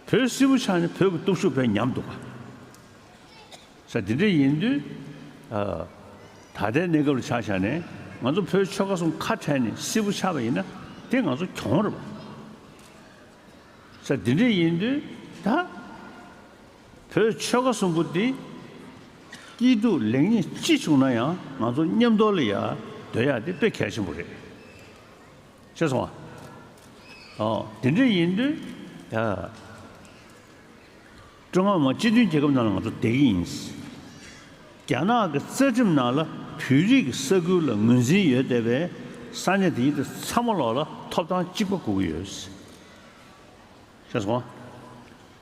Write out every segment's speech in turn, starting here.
བོད་སིལ་བུ་ཆགས་ནས་བོད་ཀྱི་སྟོབས་ཤུགས་བས་ཉམས་འདུག་པ། ས་དེ་འདྲ་ཡིན་དུས། ད་ལྟའི་གནས་སྐབས་ལ་ཆ་བཞག་ནས་ང་ཚོ་བོད་ཆོལ་ཁ་གསུམ་ཁ་བྲལ་ནས་སིལ་བུ་ཆགས་པ་ཡིན་ན་དེ་ང་ཚོ་གྱོང་རེད་པ། ས་དེ་འདྲ་ཡིན་དུས་ད། བོད་ཆོལ་ཁ་གསུམ་པོ་དེ། སྐྱིད་སྡུག་ལེགས་ཉེས་ཅི་བྱུང་ན་ཡང་ང་ཚོ་མཉམ་འདོར་ལ་ཡ་སྡོད་ཡག་དེ་དཔེ་གལ་ཆེན་པོ་རེད། ཆོས་སོང་བ། ཨོ། དེ་འདྲ་ཡིན་དུས། ཀྲུང་ཧྭ་མི་དམངས་སྤྱི་མཐུན་རྒྱལ་ཁབ་ནང་ལ་ང་ཚོ་བསྡད་ཀྱི་ཡིན། རྒྱ་ནག་གི་རྩ་ཁྲིམས་ནང་ལ་བོད་རིགས་ཀྱི་ས་ཁུལ་ལ་ངོས་འཛིན་ཡོད་བསྡད་པའི་ས་གནས་དེ་ཉིད་དུ་ཚ་མོ་ལོག་ལ་ཐོབ་ཐང་གཅིག་པ་དགོས་ཀྱི་ཡོད། ཆོས་སོང་བ།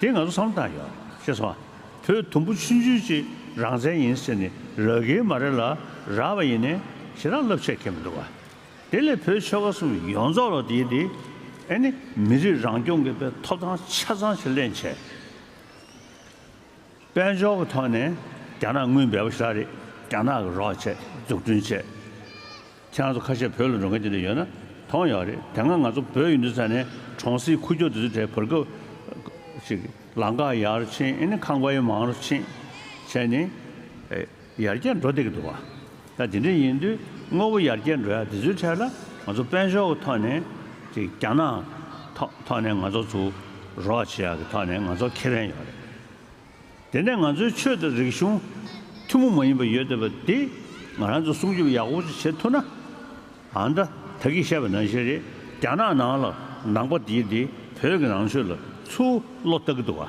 དེ་ང་ཚོ་བསམ་བློ་བཏང་ཡོད། ཤེས་སོང་ཨ། བོད་དུམ་བུ་ཆུང་ཆུང་ཅིག་རང་བཙན་ཡིན་ཟེར་ནས་ར་གེ་མ་རེ་ལ་ར་བ་ཡིན་ནས་ཞེ་རག་རླབས་ཆད་ཁེལ་མི་འདུག་ཨ། དེ་ལས་བོད་ཆོལ་ཁ་གསུམ་ཡོངས་རྫོགས་ལ་དེའི་དེ་ཨེ་ནི་མི་རིགས་རང་སྐྱོང་གི་པའི་ཐོབ་ཐང་ཆ་ཚང་ཞིག་གླེང་བྱས། དཔལ་འབྱོར་གྱི་ཐོག་ནས་རྒྱ་ནག་དངུལ་འབེལ་པོ་ཤོར་རེད་རྒྱ་ནག་གི་རོགས་བྱས་འཛུགས་སྐྲུན་བྱས། ཁྱེད་རང་ཚོ་ཁ་ཤས་བོད་ལ་འགྲོ་མཁན་དེ་འདྲ་ཡོད་ན་མཐོང་ཡོད་རེད་དེ་སྔ་ང་ཚོ་བོད་ཡུལ་འདི་ས་ནས་གྲོང་གསེབ་ཁུ་བྱུག་དེ་ཚོའི་གྲས་བོར་སྐབས། ལང་ཀ་ཡར་ཕྱིན་ཨེ་ནི་ཁང་པའི་མང་རུ་ཕྱིན་བྱས་ནས། ཡར་རྒྱས་འགྲོ་བདེ་གི་འདུག་བ། ད་དེ་འདྲ་ཡིན་དུས་དངོས་པོ་ཡར་རྒྱས་འགྲོ་ཡག་དེ་ཚོའི་ཐད་ལ་ང་ཚོ་དཔལ་འབྱོར་གི་ཐོག་ནས་དེ་རྒྱ་ནག་ཐོག་ཐོག་ནས་ང་ཚོ་ཚུར་རོགས་བྱེད་ཡག་གི་ཐོག་ནས་ང་ཚོར་ཁེ་ཕན་ཡོད་རེད། དེ་ནས་ང་ཚོའི་ཆོས་དང་རིག་གཞུང་ཐུན་མོང་མ་ཡིན་པ་ཡོད་འདོད་པ་དེ་ང་རང་ཚོ་སྲུང་སྐྱོབ་ཡག་པོ་ཅིག་བྱེད་ཐུབ་ན། ཨ་མདའ་ད་གིས་བཤད་པ་ནང་བཞིན་རེད་རྒྱ་ནག་ནང་ལ་ནང་པ་དེ་དེ་བོད་ཀྱི་ནང་ཆོས་ལ་ཚུར་བློ་བཏགས་གི་འདུག་བ།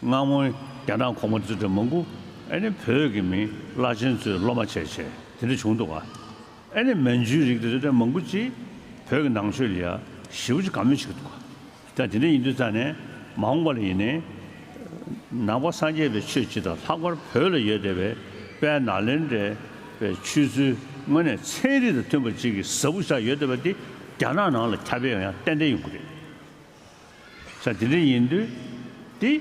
སྔ་མོ་རྒྱ་ནག་གོང་མ་ཙི་ཀྲི་མང་པོ་ཨེ་ནི་བོད་ཀྱི་མིང་བླ་ཆེན་ཚོས་སློབ་མ་བྱས་བྱས་དེ་འདྲ་བྱུང་འདུག་ཨེ་ནི་མན་ཇུའི་རིགས་དེ་ཙི་ཀྲི་མང་པོ་ཅིག་བོད་ཀྱི་ནང་ཆོས་ལ་ཡ་ཞི་བོ་ཅིག་ག་མེད་བྱེད་ཀྱི་འདུག་ད་དེ་འདྲ་ཡིན་དུས་རྩ་ནས་མ་འོངས་པ་ལ་ཡིན་ནའི་ནང་པ་སངས་རྒྱས་པའི་ཆོས་སྤྱི་དང་ལྷག་པར་བོད་ལ་ཡོད་བསྡད་པའི་དཔལ་ནཱ་ལེནྡྲའི་པའི་ཆོས་ཚུལ་དངོས་གནས་ཚན་རིག་དང་མཐུན་པ་ཅིག་གི་གཟབ་བོ་ཆགས་ཡོད་བསྡད་པ་དེ་རྒྱ་ནག་ནང་ལ་ཁྱབ་ཡོད་ཡང་ཡང་ཏན་ཏན་ཡོང་གི་རེད། ས་དེ་འདྲ་ཡིན་དུས། འདི།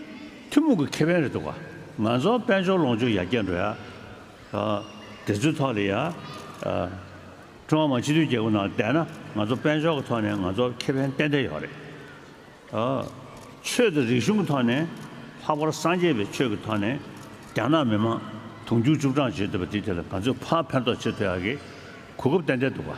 ཐུན་མོང་གི་ཁེ་ཕན་རེད་འདུག་ག། ང་ཚོ་དཔལ་འབྱོར་ལོངས་སྤྱོད་ཡར་རྒྱས་འགྲོ་ཡ། དེ་ཚོའི་ཐོག་ལ་ཡ། ཀྲུང་ཧྭ་མི་དམངས་སྤྱི་མཐུན་རྒྱལ་ཁབ་ནང་བསྡད་ན་ང་ཚོ་དཔལ་འབྱོར་གྱི་ཐོག་ནས་ང་ཚོ་ཁེ་ཕན་ཏན་ཏན་ཡོད་རེད། ཆོས་དང་རིག་གཞུང་གི་ཐོག་ནས། ལྷག་པར་སངས་རྒྱས་པའི་ཆོས་ཀྱི་ཐོག་ནས། རྒྱ་ནག་མི་དམངས་དུང་ཕྱུར་བཅུ་གྲངས་བྱེད་འདོད་པ་འདི་དེ་ལ་ག་ཚོད་ཕར་ཕན་ཐོགས་བྱེད་ཐུབ་ཡ་གི། གོ་སྐབས་ཏན་ཏན་འདུག་ག།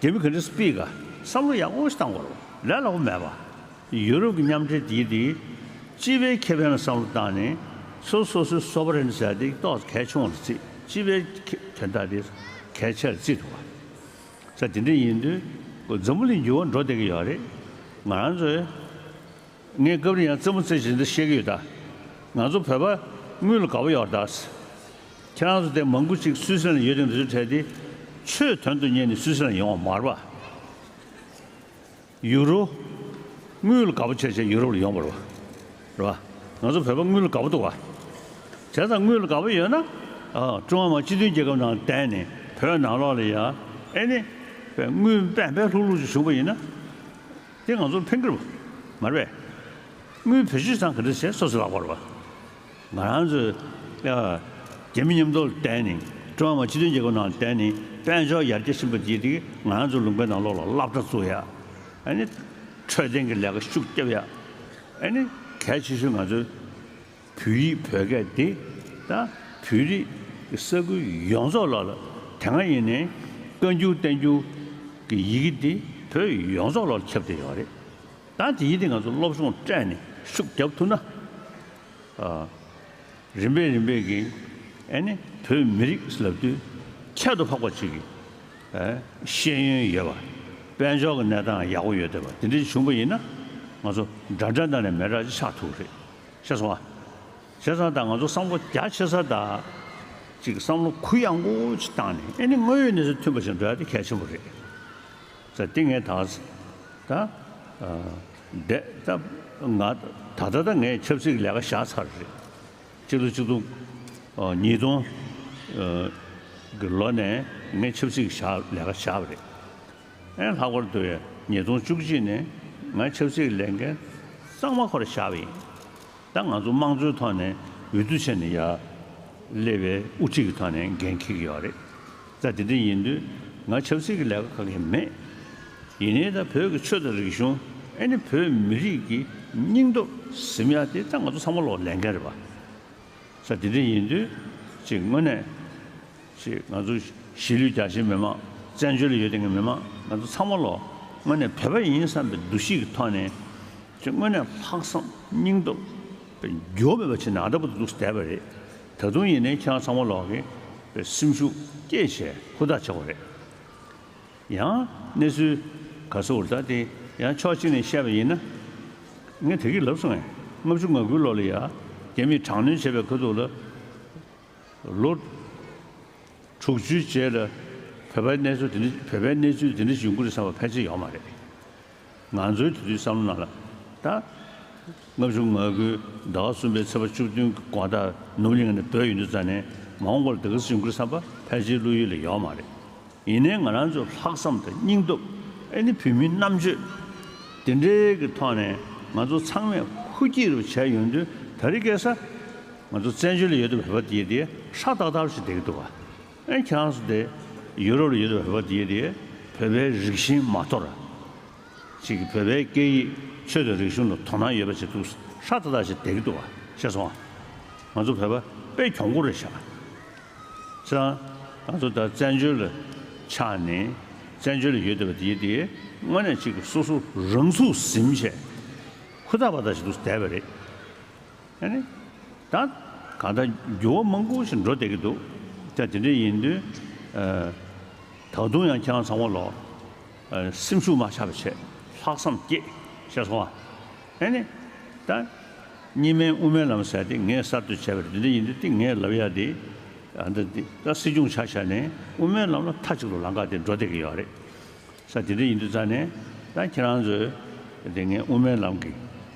དེ་བས་ག་འདྲའི་སྤིས་ཀ་བསམ་བློ་ཡར་སྔོག་ཞིག་བཏང་བར་ལས་སླ་པོ་མེད་པ། ཡུ་རོབ་ཀྱི་མཉམ་འབྲེལ་དེའི་དེའི་སྤྱི་པའི་ཁེ་ཕན་ལ་བསམ་བློ་བཏང་ནས་ཚུར་སོ་སོའི་སོ་པ་རེན་ཟེར་དེ་གཏོགས་གལ་ཆུང་བ་ལ་བརྩིས་སྤྱི་པའི་དོན་དག་དེ་གལ་ཆེ་ལ་བརྩིས་འགྲོ་བ། ས་དེ་འདྲ་ཡིན་དུས་འཛམ་བུ་གླིང་འགྱུར་བ་འགྲོ་བསྡད་ཀྱི་ཡོད་རེད། ང་རང་ཚོས་ངས་སྐབས་རེ་ཡང་རྩེད་མོ་རྩེ་བཞིན་དུ་བཤད་ཀྱི་ཡོད་ད། ང་ཚོ་བོད་པ་དངུལ་ལ་དགའ་བོ་ཡོད་རེད་ད། ཁྱེད་རང་ཚོ་དེ་མང་པོ་ཅིག་སུད་སི་ལན་ཡོད་ཅིང་འདི་ཚོའི་གྲས་དེ་ཆོས་དོན་དུ་གཉེར་ནས་སུད་སི་ལན་ཡོང་བ་མར་བ། ཡུ་རོ། དངུལ་དགའ་པོ་ཆེ་ཆེ་ཡུ་རོབ་ལ་ཡོང་བར་བ། རེད་བ། ང་ཚོ་བོད་པ་དངུལ་དགའ་པོ་འདུག་བ། དེ་ཙམ་དངུལ་དགའ་པོ་ཡོད་ན། ཀྲུང་ཧྭ་མི་དམངས་སྤྱི་མཐུན་རྒྱལ་ཁབ་ནང་བསྡད་ནས་བོད་ནང་ལོག་ལ་ཡ། ཨེ་ནི། བས་དངུལ་འབད་འབད་ལྷུག་ལྷུག་ཅིག་བྱུང་བ་ཡིན་ན། དེ་ང་ཚོར་ཕན་ཀི་རུ། མར་བས། དངུལ་བོད་གཞིས་ཚང་ག་འདྲ་བྱས་སོ་སོ་ལག་པར་བ། ང་རང་ཚོས་རྒྱལ་མི་མཉམ་འདོར་ལ་བརྟེན་ནས་ཀྲུང་ཧྭ་མི་དམངས་སྤྱི་མཐུན་རྒྱལ་ཁབ་ནང་ལ་བརྟེན་ནས་དཔལ་འབྱོར་ཡར་རྒྱས་ཕྱིན་པ་བརྒྱུད་དེ་ང་རང་ཚོའི་ལུང་པའི་ནང་ལོགས་ལ་བླ་བྲང་བཙུགས་ཡ། འཕྲོད་བསྟེན་གྱི་ལས་ཀ་ཤུགས་བསྐྱབས་ཡ། གལ་ཆེ་ཤོས་ང་ཚོའི་བོད་ཡིག་བོད་སྐད་དེ་དང་བོད་རིགས་ཀྱི་ས་ཁུལ་ཡོངས་རྫོགས་ལོགས་ལ་དེ་སྔ་ཡིན་ནའི་བཀའ་འགྱུར་བསྟན་འགྱུར་གྱི་ཡི་གེ་དེ་བོད་ཡོངས་རྫོགས་ལོགས་ལ་ཁྱབ་བསྡད་ཡོད་རེད། ད་དེ་ཡིན་དེ་ང་ཚོ་སློབ་སྦྱོང་སྤྲད་ནས་ཤུགས་རྒྱབ་ཐུབ་ན། རིམ་པས་རིམ་པས་ཀྱིས་ནི་བོད་མི་རིགས་ལ་དུས་ཁྱད་དུ་འཕགས་པ་ཅིག་གི་ཤེས་ཡོན་ཡོད་པ། དཔལ་འབྱོར་གྱི་གནས་སྟངས་ཡག་པོ་ཡོད་སྡད་པ་དེ་འདྲ་ཞིག་བྱུང་པ་ཡིན་ན། ང་ཚོ་འདྲ་འདྲ་འདྲ་ནས་མེད་དྲག་ཅིག་ཆགས་ཐུབ་ཀྱི་རེད། ཤེས་སོང་ཨ། བྱས་ཙང་ད་ང་ཚོ་བསམ་བློ་རྒྱ་ཆེ་ས་དང། ཅིག་བསམ་བློ་གུ་ཡངས་པོ་ཅིག་བཏང་ནས་ནི་དངོས་ཡོད་གནས་ཚུལ་མཐུན་པ་ཞིག་འགྲོ་ཡག་དེ་གལ་ཆེན་པོ་རེད། ས་ཏེ་ངས་ད་ད་བསྡད་ད་ང་ད་ད་ད་ངས་ཆབ་སྲིད་ཀྱི་ལས་ཀ་བཞག་ཚར་རེད། སྤྱི་ལོ་གཅིག་སྟོང་ཉིས་སྟོང་གི་ལོ་ནས་ངས་ཆབ་སྲིད་ཀྱི་བཞག་ལས་ཀ་བཞག་པ་རེད། ཨེ་ལྷག་པར་དུ་ཉིས་སྟོང་བཅུ་གཅིག་ནས་ང་ཆབ་སྲིད་ཀྱི་ལས་འགན་གཙང་མ་ཁོ་ར་བཞག་པ་ཡིན། ད་ང་ཚོ་དམངས་གཙོའི་ཐོག་ནས་འོས་བསྡུ་བྱས་ནས་ཡ་ཀླད་པའི་དབུ་ཁྲིད་ཀྱི་ཐོག་ནས་འགན་འཁྱེར་གྱི་ཡོད་རེད། རྩ་དེ་འདི་ཡིན་དུས་ང་ཆབ་སྲིད་ཀྱི་ལས་ཀ་ཁག་གི་མེད། ཡིན་ནའི་ད་བོད་ཀྱི་ཆོས་དང་རིག་གཞུང་ཨེ་ནི་བོད་མི་རིགས་ཀྱི་སྙིང་སྟོབས་ཟིམ་ཡག་དེ་ད་ང་ཚོ་ཚང་མ་ལོག་ལས་འགན་རེད་པ། རྩ་དེ་འདི་ཡིན་དུས་གཅིག་དངོས་གནས་གཅིག་ང་ཚོ་གཞིས་ལུས་རྒྱ་ཆེའི་མི་མང་བཙན་བྱོལ་ལ་ཡོད་དེང་གི་མི་མང་ང་ཚོ་ཚང་མ་ལོག་དངོས་གནས་བོད་པ་ཡིན་བསམ་པའི་འདུ་ཤེས་ཀྱི་ཐོག་ནས་གཅིག་དངོས་གནས་ལྷག་བསམ་སྙིང་སྟོབས་འགྱོ་མེད་པ་བྱེད་ན་ཨ་ད་པོ་ཏོ་འདུག་བསྡད་པ་རེད། ད་དུང་ཡིན་ནའི་ཁྱེད་རང་ཚང་མ་ལོག་གི་སེམས་ཤུགས་སྐྱེད་བྱེད་ཧུར་ཐག་ཆགས་པ་རེད། ཡང་གནས་ཚུལ་ག་ཚོད་ཧུར་ཐག་དེ་ཡང་ཕྱོགས་གཅིག་ནས་བཤད་པ་ཡིན་ན། ངས་དེ་གི་ལབ་སོང་ཡ་ལྔ་བཅུ་ང་དགུའི་ལོ་ལ་ཡ་རྒྱ་མིས་དྲག་གནོན་བྱས་པའི་ཁ་ཐུག་ལ། ལོ་དྲུག་བཅུའི་རྗེས་ལ་བོད་པའི་གནས་ཚུལ་དེ་འདྲ་བྱུང་དགོས་རེད་བསམ་པ་ཕལ་ཆེར་ཡོད་མ་རེད། ང་ཚོའི་དེ་དུས་བསམ་བློ་ནང་ལ་ད། ལྔ་བཅུ་ང་དགུའི་ཟླ་བ་གསུམ་པའི་ཚེས་པ་བཅུ་བདུན་གྱི་དགོངས་དག་ནུབ་གླིང་ནས་བོད་ཡུལ་དུ་བཙའ་ནས་མ་འོངས་པར་སྡེ་ཁུལ་སྲིད་འགུལ་བསམ་པ་ཕལ་ཆེའི་བློ་ཡུལ་ལ་ཡོད་མ་རེད། ཡིན་ནའི་ང་རང་ཚོའི་ལྷག་བསམ་དང་སྙིང་སྟོབས་ཨེ་ནི་བོད་མིའི་རྣམ་དཔྱོད། དེ་འདྲའི་གི་ཐོག་ནས་ང་ཚོ་ཚང་མས་ཧུར་སྐྱེད་རུ་བྱས་ཡོང་དུས་ད་རི་སྐལ་བཟའ། ང་ཚོ་བཙན་བྱོལ་ལ་ཡོད་དུས་བོད་པ་དེ་དེ་ཧྲག་ཏག་ཏག་རུ་ཞིག་བསྡད་ཀྱི་འདུག་བ། ཨེ་ཁྱང་སུ་དེ་ཡོད་རོ་ཡོད་རོ་བོད་པ་དེ་དེ་བོད་པའི་རིག་གཞིན་མ་ཐོ་ར་ཅིག་གི་བོད་པའི་སྐད་ཡིག་ཆོས་དང་རིག་གཞུང་ལ་དོ་སྣང་ཡོད་པ་ཅིག་འདུག་ཧྲ་ཏ་ཏ་ཞིག་དེ་གི་འདུག་བ་ཤེས་སོང་ང་ཚོ་བོད་པ་པའི་གྱོང་གུར་རེད་ཤག་ཅི་རང་ང་ཚོ་ད་བཙན་བྱོལ་ལ་ཆག་ནས་བཙན་བྱོལ་ལ་ཡོད་བསྡད་པ་དེ་དེ་དངོས་གནས་ཅིག་གི་སོ་སོ་རང་ཚུགས་ཟིན་བྱས་ཁུ་ཐག་པ་ཐག་ཞིག་འདུག་བསྡད་པ་རེད། ཨེ་ནི། ད་གང་ལྟར་འགྱུར་བ་མང་པོ་ཞིག་འགྲོ་བསྡད་ཀྱི་འདུག་ཀྱང་དེ་འདྲ་ཡིན་དུས། ད་དུང་ཡང་ཁྱེད་རང་ཚང་མ་ལ། སེམས་ཤུགས་མ་ཆག་པའི་ཆེད་ལྷག་བསམ་བསྐྱེད་ཤེས་སོང་ཨ། ཨེ་ནི། ད། གཉིས་སྨན་དབུ་མའི་ལམ་ཟེར་ཏེ་ངས་གསར་གཏོད་བྱས་པ་རེད་དེ་འདྲ་ཡིན་དུས་ཏིག་ངས་ལབ་ཡ་དེ། ད་འདི་ལྟར་སྲིད་སྐྱོང་ཆགས་ཆགས་ནས་དབུ་མའི་ལམ་ལ་མཐའ་གཅིག་ཏུ་ལངས་ཀ་དེ་འགྲོ་བསྡད་ཀྱི་ཡོད་རེད། ས་དེ་འདྲ་ཡིན་དུས་རྩ་ནས། ད་ཁྱེད་རང་ཚོས། དེ་ངས་དབུ་མའི་ལམ་གྱི།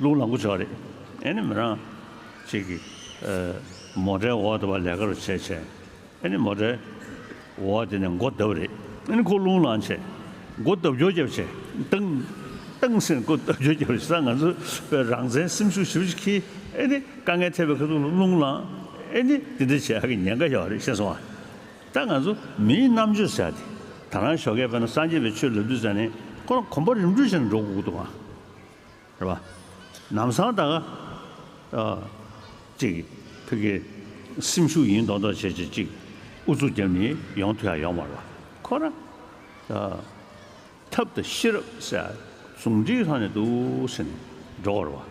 ལུག་ལ་མགོ་ཅོག་རེད་ཨེ་ནི་མི་རང། ཅིག་གིས། མོ་འདྲའི་འོག་དེ་བ་ལས་ཀ་རུ་བྱེད་བྱས། ཨེ་ནི་མོ་འདྲའི། འོག་དེ་ནས་མགོ་བརྡབ་རེད་ཨེ་ནི་ཁོ་ལུང་ལང་བྱས། མགོ་བརྡབ་རྒྱོ་རྒྱབ་བྱས། ཏང། ཏང་སེང་མགོ་བརྡབ་རྒྱོ་རྒྱབ་བྱས་ས་ང་ཚོ་བའི་རང་བཙན་སེམས་ཤུགས་ཞིབ་ཅིག་གིས་ཨེ་ནི་དཀའ་ངལ་ཐེབས་པའི་ཁ་ཐུག་ལ་ལུང་ལང། ཨེ་ནི་འདི་འདྲ་བྱས་ཨ་ཀི་ཉེན་ཁ་ཡོད་རེད་ཤེས་སོང་ཨ། ད་ང་ཚོ་མིའི་རྣམ་དཔྱོད་བྱས་ཏེ་ད་རང་ཞོགས་ཁས་པས་ན་སངས་རྒྱས་པའི་ཆོས་ལབ་དུས་ཟེར་ནས་ཁོ་རང་གོམ་པ་རིམ་འགྲོས་བྱས་ནས་འགྲོ་དགོས་ཀི་འདུག་ཨ། རེད་པ། ནམ་སང་ད་ག་ཅིག་ཕི་གེ་སེམས་ཤུགས་ཡིན་མདོག་མདོག་བྱེད་བྱེད་ཅིག་ཨུ་ཚུགས་རྒྱབ་ནི་ཡོང་དུས་ཡང་ཡོང་མ་རོགས་ཁོ་ར། ཐབས་དང་ཤེས་རབ་སེ་ཟུང་འདྲིས་ལྷག་ནས་འདུག་ཟེར་ནས་འགྲོ་ག་རེད་པ།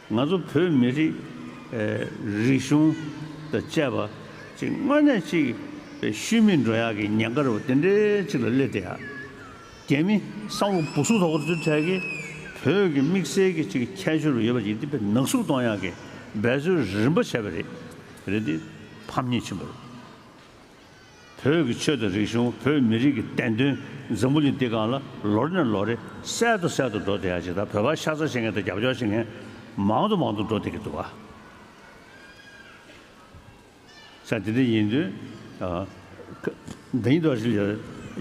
ང་ཚོ་བོད་མི་རིགས་རིག་གཞུང་དང་བཅས་པ་གཅིག་དངོས་གནས་གཅིག་པའི་ཤུལ་མིང་འགྲོ་ཡག་གི་ཉེན་ཁར་བ་དེ་འདྲའི་གཅིག་ལ་སླེབས་བསྡད་ཡག་རྒྱ་མི་སང་ལོ་སྦུག་སུག་དོག་པོ་འཛུལ་འཕྲལ་གྱི་བོད་ཀྱི་དམིགས་བསལ་གྱི་གཅིག་ཁྱད་ཤོར་བ་ཡོད་པ་ཡིན་ཏེ་བོད་ནག་སུག་གཏོང་ཡག་གི་འབད་རྩོལ་རིམ་པ་བྱས་པ་རེད་རེད་དེ་ཕམ་ཉེས་ཆེན་པོ་རེད། བོད་ཀྱི་ཆོས་དང་རིག་གཞུང་བོད་མི་རིགས་ཀྱི་བསྟན་དོན་འཛམ་བུ་གླིང་འདི་གང་ལ་ལོ་རེ་ནས་ལོ་རེ་གསལ་དུ་གསལ་དུ་འགྲོ་བསྡད་ཡ་ཇི་ལྟར་བོད་པ་ཤ་ཚ་བྱེད་མཁན་དང་རྒྱབ་སྐྱོར་བྱེད་མཁན་མང་དུ་མང་དུ་འགྲོ་བསྡད་ཀྱི་འདུག་ག་ཆ་དེ་འདྲ་ཡིན་དུས།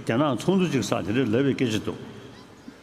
རྒྱ་ནག་ཚོགས་འདུ་གཅིག་སར་དེ་འདྲ་ལབ་པའི་སྐད་ཆ་འདུག།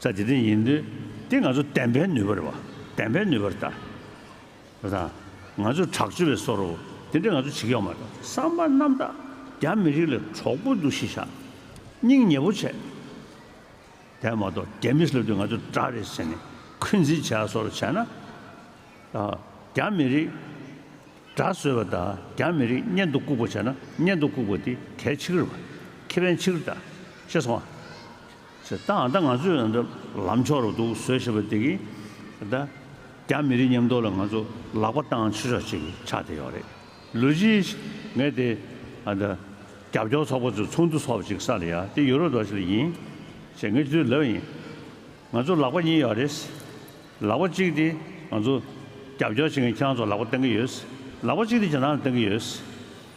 ས་དེ་དེ་ཡིན། དེ་ང་ཚོ་བདེན་པའི་ནུས་པར་བ། བདེན་པའི་ནུས་པར་བལྟ། ང་ཚོས་དྲག་སྤྱོད་པའི་སོ་རོ། དེ་འདྲ་ང་ཚོ་བྱེད་ཀྱི་ཡོད་མ་རེད། བསམ་པ་རྣམ་དག་རྒྱ་མི་རིགས་ལ་གྲོགས་པོ་འདུ་ཤེས་བྱ། སྙིང་ཉེ་པོ་བྱེད། དེ་མ་གཏོགས་རྒྱ་མི་སླེབས་དུས་ང་ཚོ་དགྲ་རེད་ཟེར་ནས་འཁོན་འཛིན་བྱེད་ཡ་སོ་རོ་བྱས་ན། རྒྱ་མི་རིགས་དགྲ་བཟོས་པ་དང་རྒྱ་མི་རིགས་གཉེན་དུ་བཀུག་པ་བྱས་ན་གཉེན་དུ་བཀུག་པ་དེ་གལ་ཆེ་གི་རེད། ཁེ་ཕན་ཆེ་གི་རེད། ཤེས་སོང་ཨ། ཚེ་ཐང་ད་ང་ཚོས་ད་ལམ་ཕྱོགས་རུ་འདུག་ཟོས་ཞེས་པ་དེ་གིས་ད་རྒྱ་མི་རིགས་ཉམས་རྟོགས་ལ་ང་ཚོ་ལག་པ་བཏང་ཆོག་ཆོག་ཅིག་ཆགས་བསྡད་ཡོད་རེད། ལུས་གཞིས་ངས་དེ་ད་རྒྱབ་སྐྱོར་ཚོགས་པ་ཚོས་ཚོགས་འདུ་ཚོགས་ཅིག་ས་ལ་ཡ་དེ་ཡོད་རོགས་དོགས་ཞིག་ལ་ཡིན། ཞེས་ངས་དུས་ལབ་ཡིན། ང་ཚོ་ལག་པ་གཉིས་ཡོད་རེད། ལག་པ་གཅིག་དེ་ང་ཚོ་རྒྱབ་སྐྱོར་བྱེད་མཁན་ཁྱེད་རང་ཚོ་ལག་པ་བཏང་གི་ཡོད། ལག་པ་གཅིག་དེ་ཇེ་ཐང་ལ་བཏང་གི་ཡོད།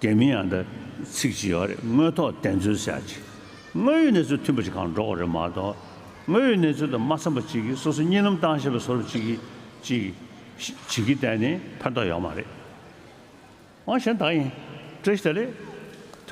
དེ་མིན་ཡང་ད་ཚིག་ཅི་ཡོད་རེད་དངོས་ཐོག་བདེན་རྫུན་གསལ་བྱེད་དངོས་ཡོད་གནས་ཚུལ་མཐུན་པ་ཞིག་གང་སྒྲོག་རེད་མ་གཏོགས་དངོས་ཡོད་གནས་ཚུལ་དང་མ་འཚམས་པ་གཅིག་གིས་སོ་སོ་གཉིད་ལམ་བཏང་ཤེས་པ་སོར་གཅིག་གིས་ཅིག་བྱེད་ཀྱི་གཏན་ནས་ཕན་ཐོག་ཡོད་མ་རེད། ཨང་གཞན་དག་ཡིན། བཀྲ་ཤིས་བདེ་ལེགས།